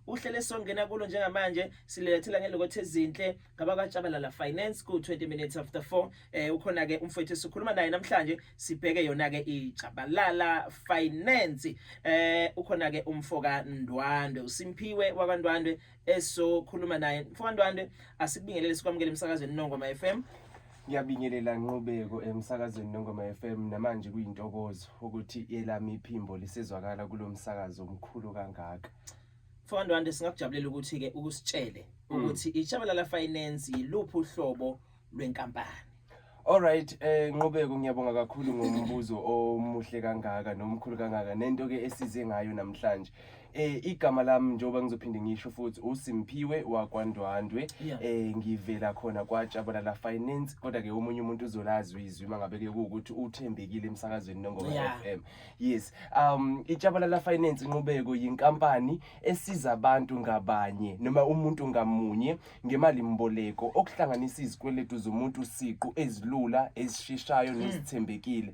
Uhlelo esizongena kulo njengamanje silethela ngelokothe ezinhle ngabakwatshabalala finance ku-20 minutes after 4 eh ukhona ke umfowethu esikhuluma naye namhlanje sibheke yona ke itshabalala finance eh ukhona ke umfoka Ndwandwe uSimphiwe wakwaNdwandwe esokhuluma naye mfoka Ndwandwe asibingelele sikwamukele emsakazweni Nongoma FM Ngiyabingelela Nqubeko emsakazweni Nongoma FM namanje kuyintokozo ukuthi elami iphimbo lisezwakala kulomsakazo omkhulu kangaka. Mfowethu Wande singakujabulela ukuthi ke ukusitshele mm. ukuthi iShabalala Finance yiluphi uhlobo lwenkampani. Alright eh Nqubeko ngiyabonga kakhulu ngombuzo omuhle kangaka nomkhulu kangaka nento ke esize ngayo namhlanje. Eh igama lami njengoba ngizophinde ngisho futhi uSimphiwe wakwaNdwandwe Yeah. eh ngivela khona kwaJabulala Finance kodwa ke omunye umuntu uzolazi izwi mangabe ke ukuthi uthembekile emsakazweni nongoma Yeah. FM yes um iJabulala Finance inqubeko yinkampani esiza abantu ngabanye noma umuntu ngamunye ngemali mboleko okuhlanganisa izikweletu zomuntu siqu ezilula ezisheshayo nezithembekile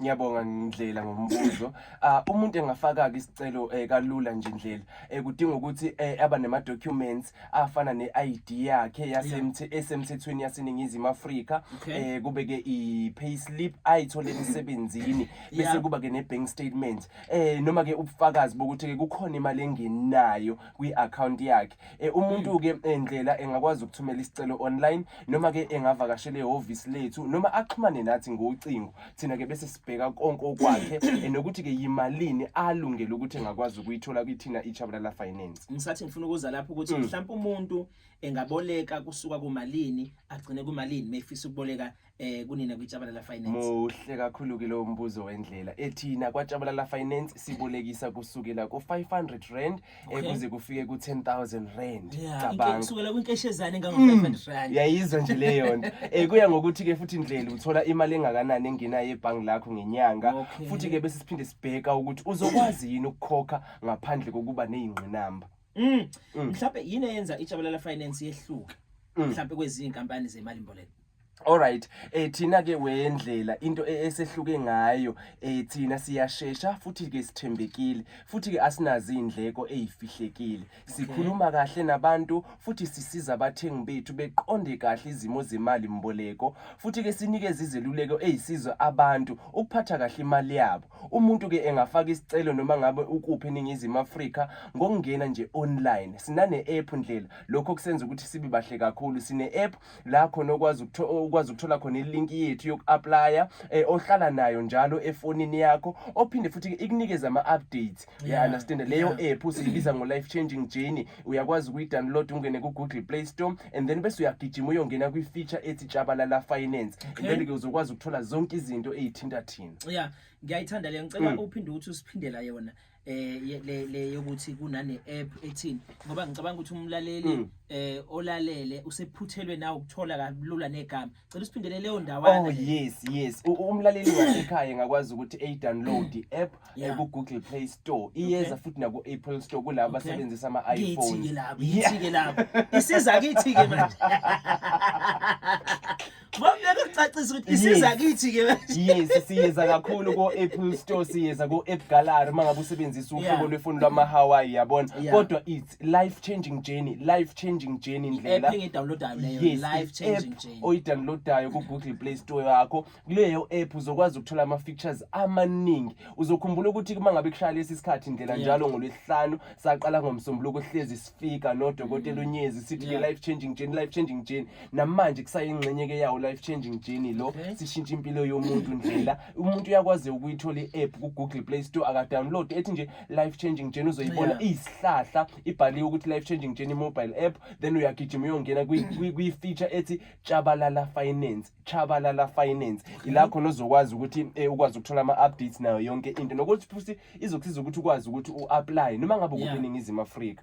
Ngiyabonga ngindlela ngombuzo. Ah umuntu engafaka ke isicelo eh, kalula nje indlela. Eh kudinga ukuthi eh, aba nema documents afana ne ID yakhe yasemthi esemthethweni yaseningizimu Afrika. Okay. Eh kube ke i payslip ayithole emsebenzini Yeah. bese kuba ke ne bank statement. Eh noma ke ubufakazi bokuthi ke kukhona imali engenayo kwi account yakhe. Eh umuntu ke eh, ndlela engakwazi ukuthumela isicelo online noma ke engavakashela ehhovisi lethu noma axhumane nathi ngocingo thina ke bese sibheka konke okwakhe nokuthi ke yimalini alungele ukuthi engakwazi ukuyithola kithina iChabalala Finance ngisathi ngifuna ukuza lapho ukuthi mm. mhlawumbe umuntu engaboleka kusuka kumalini agcine kumalini mefisa ukuboleka eh kunina kwiChabalala Finance muhle kakhulu ke lo mbuzo wendlela ethina kwaChabalala Finance sibolekisa kusukela ku500 rand Okay. ekuze kufike ku 10000 rand Yeah, inke- cabanga kusukela kwinkeshezane engango 500 rand yayizwa nje leyo nto um kuya ngokuthi ke futhi ndlela uthola imali engakanani engenayo ebhangi lakho ngenyanga Okay. futhi ke bese siphinde sibheka ukuthi uzokwazi yini ukukhokha ngaphandle kokuba neyingqinamba Mm. mhlawumbe yini eyenza ijabulela finance yehluke mhlawumbe kwezinye inkampani zemali mboleko Alright eh thina ke wendlela into e-, esehluke ngayo eh thina siyashesha futhi ke sithembekile futhi ke asinazi indleko ezifihlekile sikhuluma kahle nabantu futhi sisiza abathengi bethu beqonde kahle izimo zemali mboleko futhi ke sinikeza izeluleko ezisiza abantu ukuphatha kahle imali yabo umuntu ke engafaka isicelo noma ngabe ukuphi eningizimu Afrika ngokungena nje online sinane app ndlela lokho kusenza ukuthi sibe bahle kakhulu sine app la khona okwazi ukwazi ukuthola khona ilink yethu yoku-aplaya eh, ohlala nayo njalo efonini yakho ophinde futhi ikunikeze ama-updates uya-understanda leyo app usiyibiza ngo-life changing journey uyakwazi ukuyi-download ungene ku-google play store and then bese uyagijima uyongena kwi-feature ethi tshabalala finance and then-ke uzokwazi ukuthola zonke izinto eyithinta thina ya ngiyayithanda le ngicela mm. uphinde ukuthi usiphindela yona eh le le yokuthi kunane app ethini ngoba ngicabanga ukuthi umlaleli hmm. eh olalele usephuthelwe na ukuthola kalula negama cela usiphindele leyo ndawana oh yes yes umlaleli wasekhaya ngakwazi ukuthi a download i app eh, ku Google Play Store iyeza futhi na ku Apple Store kulabo basebenzisa ama iPhone ngithike lapho ngithike lapho isiza kithi ke manje Ngeke kucacisa ukuthi isiza kithi ke. Yes, siyeza kakhulu ko Apple Store, siyeza ko App Gallery mangabe usebenzisa uhlobo lwefoni lwama Hawaii yabona. Kodwa it's life changing journey, life changing journey indlela. App engidownloadayo leyo, life changing journey. Oyidownloadayo ku Google Play Store yakho. Kuleyo app uzokwazi ukuthola ama features amaningi. Uzokhumbula ukuthi uma ngabe kushaya lesi sikhathi indlela njalo ngolwesihlanu saqala ngomsombuluko hlezi sifika nodokotela mm. unyezi sithi life changing journey, life changing journey. namanje kusayingxenye ke yawo life changing journey lo okay. sishintsha impilo yomuntu ndlela umuntu uyakwazi ukuyithola i-app ku-google play store akadownload ethi nje life changing journey uzoyibona yeah. iyisihlahla ibhaliwe ukuthi life changing journey mobile app then uyagijima uyongena kwi-feature ethi chabalala finance chabalala finance okay. ila khona uzokwazi ukuthi eh, ukwazi ukuthola ama-updates nayo yonke into nokuthi futhi izokusiza ukuthi ukwazi ukuthi u-aplaye noma ngabe ukuningizimu yeah. afrika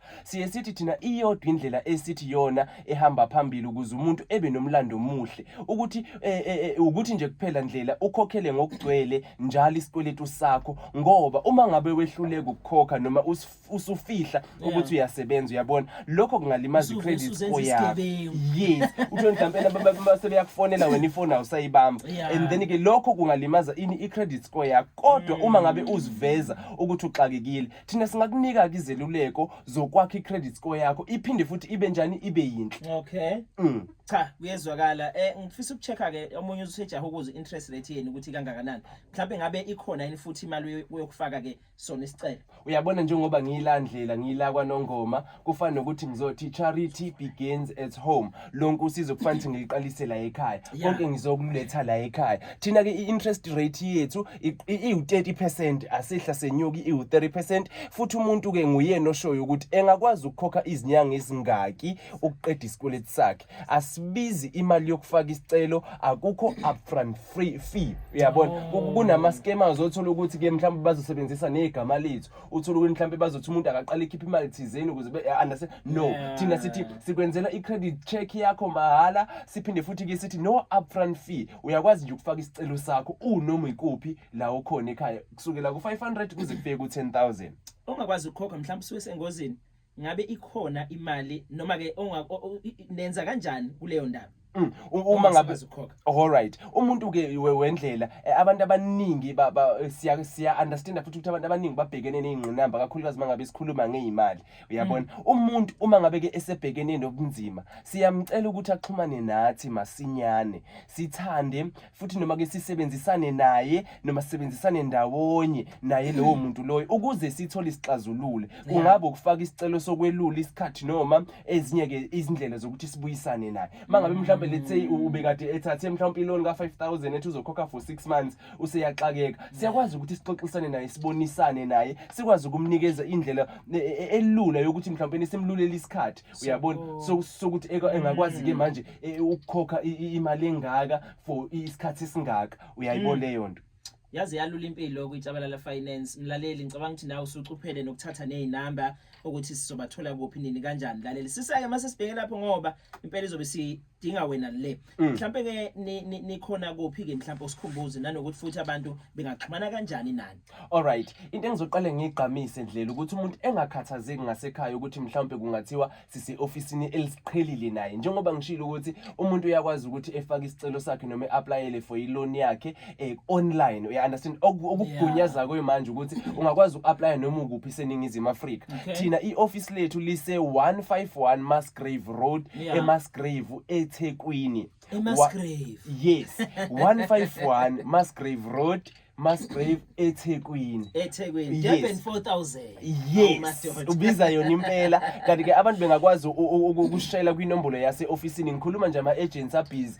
siye sithi thina iyodwa indlela esithi yona ehamba phambili ukuze umuntu ebe nomlando omuhle ukuthi eh, eh, eh, ukuthi nje kuphela ndlela ukhokhele ngokugcwele njalo isikweletu sakho ngoba uma ngabe wehluleka ukukhokha noma usufihla ukuthi uyasebenza uyabona lokho kungalimaza i-credit score yakho yes uthole mhlawumbe ababa sebeyakufonela wena ifoni awusayibamba and then ke lokho kungalimaza ini i-credit score yakho kodwa uma ngabe uziveza ukuthi uxakekile thina singakunika-ke izeluleko zokwakha i-credit score yakho iphinde futhi ibe njani ibe yinhle okay mm. cha kuyezwakala um ngifisa uku-check-a-ke omunye usejaha ukuze i-interest rate yenu ukuthi kangakanani mhlawumbe ngabe ikhona yini futhi imali uyokufaka-ke sona isicelo uyabona njengoba ngiyilandlela ngiyila kwanongoma kufana nokuthi ngizothi charity begins at home lonke usizo kufanele ukuthi ngiliqalise la ekhaya konke ngizokululetha la ekhaya thina ke i-interest rate yethu iwu-30 percent asehla senyuki iwu-30 percent futhi umuntu ke nguyena oshoyo ukuthi engakwazi ukukhokha izinyanga ezingaki ukuqeda isikweleti sakhe asibizi imali yokufaka isicelo akukho upfront free fee uyabona oh. kunama-scamers othola ukuthi ke mhlawumbe bazosebenzisa negama lethu uthula ukuthi mhlawumbe bazothi umuntu akaqala ikhipha imali thizeni ukuze be-understand eh, no yeah. thina sithi sikwenzela i-credit check yakho mahhala siphinde futhi-ke sithi no upfront fee uyakwazi nje ukufaka isicelo sakho unoma ikuphi la ukhona ekhaya kusukela ku-500 kuze kufike ku-10000 ongakwazi ukukhokha mhlawumbe usuke sengozini ngabe ikhona imali noma ke nenza kanjani kuleyo ndaba mm, uma ngabe all right umuntu ke wendlela eh, abantu abaningi eh, siya siya understand futhi ukuthi abantu abaningi babhekene nezingqinamba kakhulukazi mangabe sikhuluma ngeimali uyabona mm. umuntu uma ngabe ke esebhekene nobunzima siyamcela ukuthi axhumane nathi masinyane sithande futhi noma ke sisebenzisane naye noma sisebenzisane ndawonye naye lowo muntu loyo ukuze sithole isixazulule kungabe ukufaka isicelo sokwelula isikhathi noma ezinye ke izindlela zokuthi sibuyisane naye mangabe mhlawumbe let's say ubekade ethathe mhlawumbe iloan ka 5000 ethi uzokhokha for 6 months useyaxakeka siyakwazi ukuthi sixoxisane naye sibonisane naye sikwazi ukumnikeza indlela e, e, elula yokuthi mhlawumbe simlulele isikhathi uyabona so sokuthi engakwazi ke mm. manje e, ukukhokha imali engaka for isikhathi esingaka uyayibona mm. leyo nto yaze yalula impilo kwitshabalala finance mlaleli ngicabanga ukuthi nawe usucuphele nokuthatha nezinamba ukuthi sizobathola kuphi nini kanjani mlaleli sisake mase sibheke lapho ngoba impela izobe si dinga wena le mm. mhlambe ke nikhona kuphi ke mhlambe usikhumbuze nanokuthi futhi abantu bengaxhumana kanjani nani all right into engizoqale ngigqamise ndlela ukuthi umuntu engakhathazeki ngasekhaya ukuthi mhlambe kungathiwa sise officeini elisiqhelile naye njengoba ngishilo ukuthi umuntu uyakwazi ukuthi efake isicelo sakhe noma eapplyele for iloan yakhe eh, online uya understand Oku- okukugunyaza kuyo manje ukuthi ungakwazi uku-aplya noma ukuphi seningizimu afrika Okay. thina i-ofisi lethu lise-151 masgrave road Yeah. emasgrave ethekwini Wa- emasgrave yes 151 masgrave road masgrave ethekwini ethekwini Yes. durban 4000 yes Awumadoda. ubiza yona impela kanti-ke abantu bengakwazi u- u- u- ukushayela kwinombolo yase-ofisini ngikhuluma nje ama-agents abhizi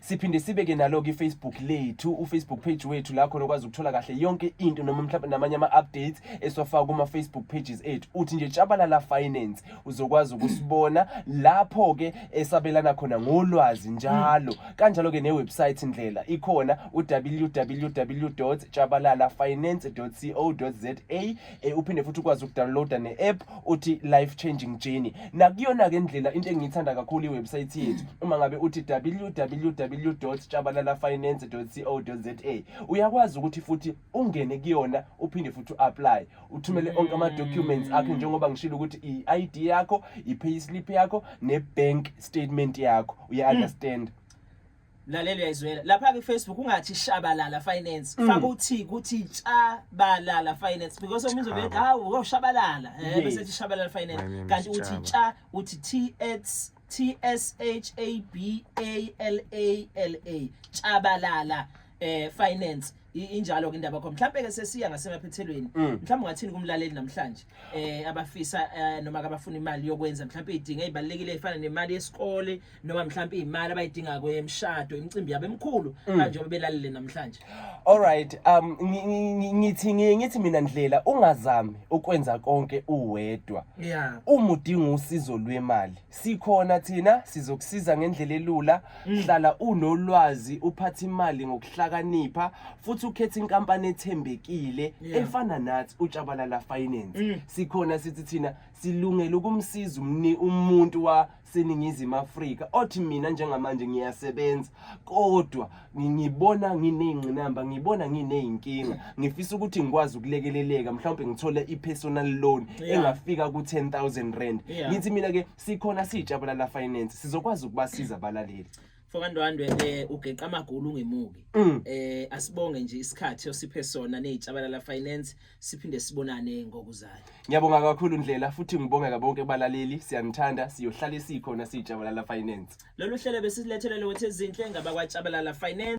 siphinde sibe ke nalo ke Facebook lethu u Facebook page wethu la khona ukwazi ukuthola kahle yonke into noma mhlawumbe namanye ama updates eswafaka kuma Facebook pages ethu uthi nje Tshabalala Finance uzokwazi ukusibona lapho ke esabelana khona ngolwazi njalo kanjalo ke ne website indlela ikhona u www.tshabalalafinance.co.za eh, uphinde futhi ukwazi ukudownloada ne-app uthi life changing journey nakuyona-ke ndlela into engiyithanda kakhulu iwebsayithi yethu uma ngabe uthi www tshabalalafinance co za uyakwazi ukuthi futhi ungene kuyona uphinde futhi u-apply uthumele mm. onke ama-documents akho njengoba ngishilo ukuthi i-i d yakho i-payslip yakho ne-bank statement yakho uya-understand mm. lalela uyayizwela lapha ke Facebook ungathi shabalala finance mm. faka uthi kuthi tshabalala finance because omunye uzobe hawu uyoshabalala eh bese thi shabalala finance kanti uthi tsha uthi T S T S H A B A L A L A tshabalala eh finance injalo ke indaba yakho mhlawumbe ke sesiya ngasemaphethelweni mm. mhlawumbe ungathini kumlaleli namhlanje eh abafisa eh, noma kabafuna imali yokwenza mhlawumbe idinga ezibalekile efana nemali yesikole noma mhlawumbe imali abayidinga kwemshado imicimbi yabo emkhulu mm. kanje obelalele namhlanje all right um ngithi ngithi mina ndlela ungazami ukwenza konke uwedwa yeah umudinga usizo lwemali Sikhona thina sizokusiza ngendlela elula. Mm. Hlala unolwazi, uphathe imali ngokuhlakanipha futhi ukhethe inkampani ethembekile Yeah. efana nathi uTshabalala Finance. Mm. Sikhona sithi thina silungele ukumsiza umni umuntu waseNingizimu Afrika othi mina njengamanje ngiyasebenza kodwa ngibona nginey'ngqinamba ngibona nginey'nkinga ngifisa ukuthi ngikwazi ukulekeleleka mhlawumbe ngithole i-personal loan engafika ku-ten thousand rand ngithi mina-ke sikhona siyijabula la finance sizokwazi ukubasiza abalaleli fokandwandwe um eh, ugeqa amagulu ungemuki um mm. eh, asibonge nje isikhathi osiphe sona ney'tshabalala finance siphinde sibonane ngokuzayo ngiyabonga kakhulu ndlela futhi ngibongeka bonke balaleli siyanithanda siyohlala sikhona sijabalala finance lolu hlelo besilethelele wethi ezinhle ngabakwajabalala finance